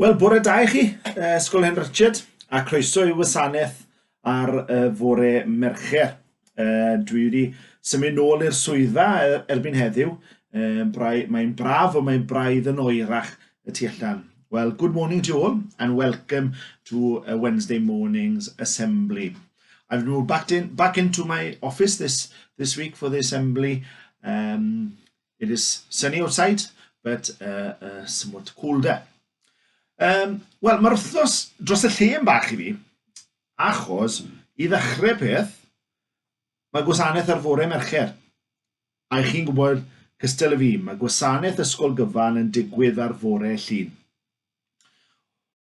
Wel, bore da i chi, uh, Ysgol Hen Richard, a croeso i wasanaeth ar y fore Mercher. Uh, dwi wedi symud nôl i'r swyddfa e, erbyn heddiw. Uh, Mae'n braf o mae'n braidd yn oerach y tu allan. Well, good morning to you all and welcome to a Wednesday morning's assembly. I've moved back, in, back into my office this, this week for the assembly. Um, It is sunny outside, but uh, uh, somewhat colder. Um, Wel, mae'r wythnos dros y lle yn bach i fi, achos i ddechrau peth, mae gwasanaeth ar fore Mercher. A i chi'n gwybod, cystal y fi, mae gwasanaeth ysgol gyfan yn digwydd ar fore llun.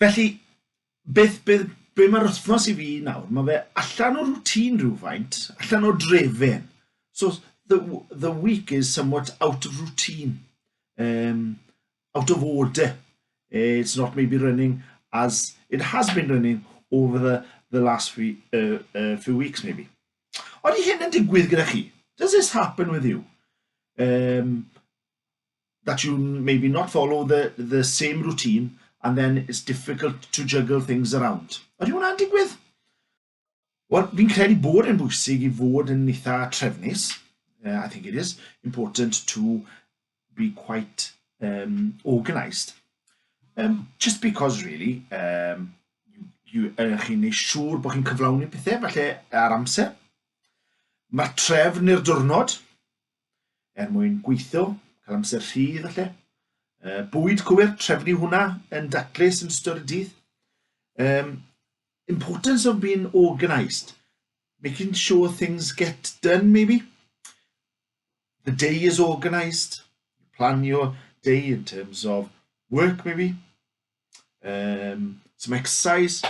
Felly, beth, beth, be mae'r wythnos i fi nawr? Mae fe allan o routine rhywfaint, allan o drefen. So, the, the week is somewhat out of routine, um, out of order. Eh, it's not maybe running as it has been running over the, the last few, uh, uh, few weeks maybe. Ond i hyn yn digwydd gyda chi? Does this happen with you? Um, that you maybe not follow the, the same routine and then it's difficult to juggle things around. Ydy hwnna'n digwydd? Wel, fi'n credu bod yn bwysig i fod yn eitha trefnus. Uh, I think it is important to be quite um, organised. Um, just because, really, um, you, uh, chi'n ei siŵr bod chi'n cyflawni pethau, falle ar amser. Mae trefn i'r diwrnod, er mwyn gweithio, cael amser rhydd falle. Uh, bwyd cywir, trefnu hwnna yn daclus yn ystod y dydd. Um, importance of being organised, making sure things get done maybe. The day is organised, plan your day in terms of work maybe, um, some exercise,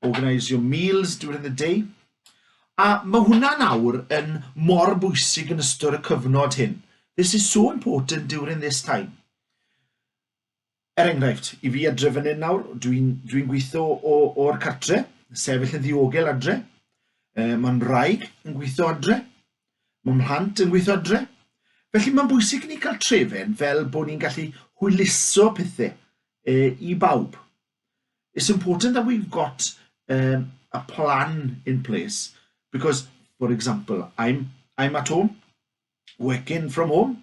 organise your meals during the day. A mae hwnna nawr yn mor bwysig yn ystod y cyfnod hyn. This is so important during this time. Er enghraifft, i fi adre fan hyn nawr, dwi'n dwi, n, gweithio o'r cartre, sefyll yn ddiogel adre, e, mae'n rhaeg yn gweithio adre, Mae mhlant yn gweithio adre, felly mae'n bwysig i ni cael trefen fel bod ni'n gallu hwyluso pethau e, i bawb. It's important that we've got um, a plan in place because, for example, I'm, I'm at home, working from home,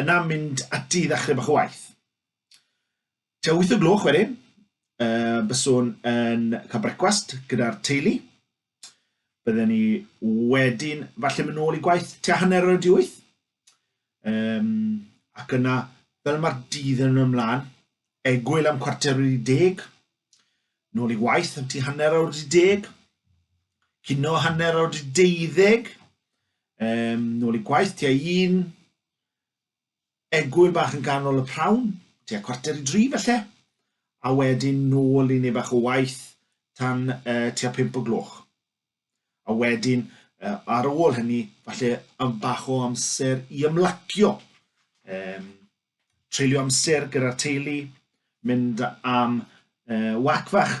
Yna mynd ati i ddechrau bach o waith. Tua wyth o gloch wedyn, uh, byswn yn cael brecwast gyda'r teulu. Bydden ni wedyn falle mynd nôl i gwaith tua hanner o'r di wyth. Um, ac yna, fel mae'r dydd yn ymlaen, egwyl am cwarter wedi deg, nôl i waith am ti hanner awr wedi deg, cino hanner awr wedi deuddeg, Um, nôl i gwaith, tua un egwyl bach yn ganol y prawn, tua cwarter i dri felly, a wedyn nôl i neu bach o waith tan uh, tua pimp o gloch. A wedyn, uh, ar ôl hynny, falle am bach o amser i ymlacio. Um, treulio amser gyda'r teulu, mynd am uh, wac fach,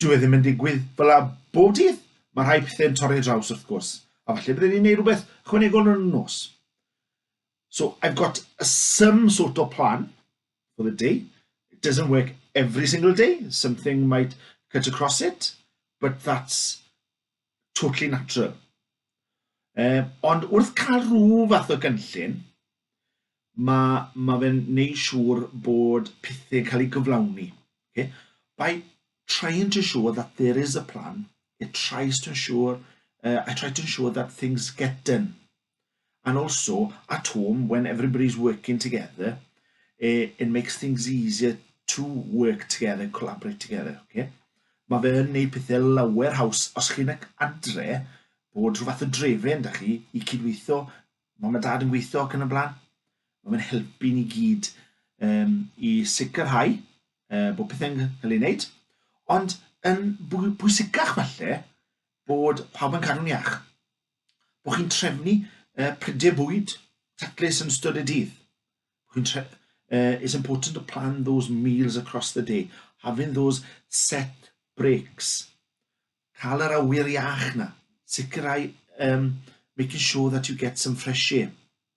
Dyw e ddim yn digwydd fel 'a bob dydd, mae rhai pethe'n torri draws wrth gwrs, a falle bydden ni'n neud rhywbeth ychwanegol yn y nos. So I've got a some sort of plan for the day. It doesn't work every single day, something might cut across it, but that's totally natural. Um, ond wrth cael rhyw fath o gynllun, mae, ma fe'n neud siŵr bod pethau'n cael eu gyflawni. Okay? By trying to show that there is a plan, it tries to ensure, uh, I try to ensure that things get done. And also, at home, when everybody's working together, eh, it makes things easier to work together, collaborate together, okay? Mae fe yn neud pethau lawer haws os chi'n ac adre bod rhyw fath o drefen da chi i cydweithio, mam a dad yn gweithio ac yn y blaen. Mae fe'n helpu ni gyd um, i sicrhau uh, bod pethau'n cael ei wneud, ond yn bwysicach falle bod pawb yn cadw'n iach. Bod chi'n trefnu uh, prydau bwyd taclus yn ystod y dydd. uh, it's important to plan those meals across the day, having those set breaks. Cael yr awyr iach na, sicrhau, um, making sure that you get some fresh air.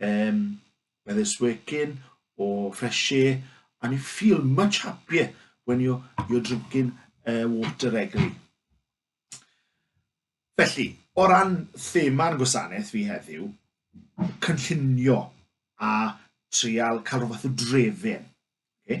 Um, by this working or fresh air, and you feel much happier when you're, you're drinking uh, water regularly. Felly, o ran thema'r gwasanaeth fi heddiw, cynllunio a trial cael rhywbeth o drefyn. Okay?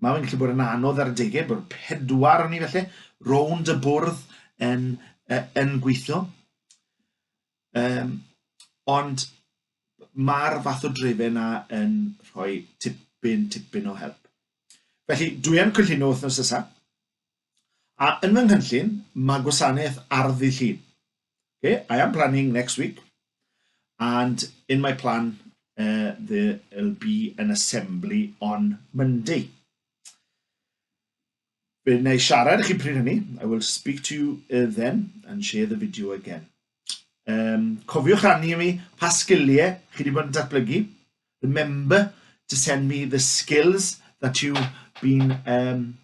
Mae fe'n gallu bod yn anodd ar adegau, bod pedwar o'n i felly, rownd y bwrdd yn, uh, yn gweithio. Um, ond mae'r fath o drefe yna yn rhoi tipyn, tipyn o help. Felly, dwi yn cynllunio wythnos nesaf. A yn fy nghynllun, mae gwasanaeth ardd ddydd Llun. Okay, I am planning next week, and in my plan uh, there'll be an assembly on Monday. Fe wna i siarad i chi pryd hynny, I will speak to you uh, then and share the video again. Um, cofiwch rannu i mi pa sgiliau chi wedi bod yn datblygu. Remember to send me the skills that you've been um,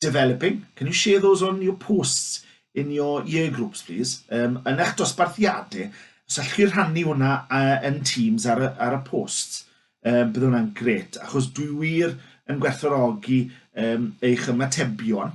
developing. Can you share those on your posts in your year groups, please? Um, yn eich dosbarthiadau, os allwch chi rhannu hwnna uh, yn Teams ar y, ar y posts, um, bydd hwnna'n gret, achos dwi wir yn gwerthorogi um, eich ymatebion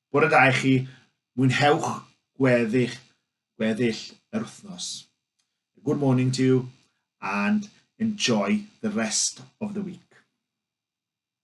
Bore da i chi, mwynhewch gweddill, gweddill yr wythnos. Good morning to you and enjoy the rest of the week.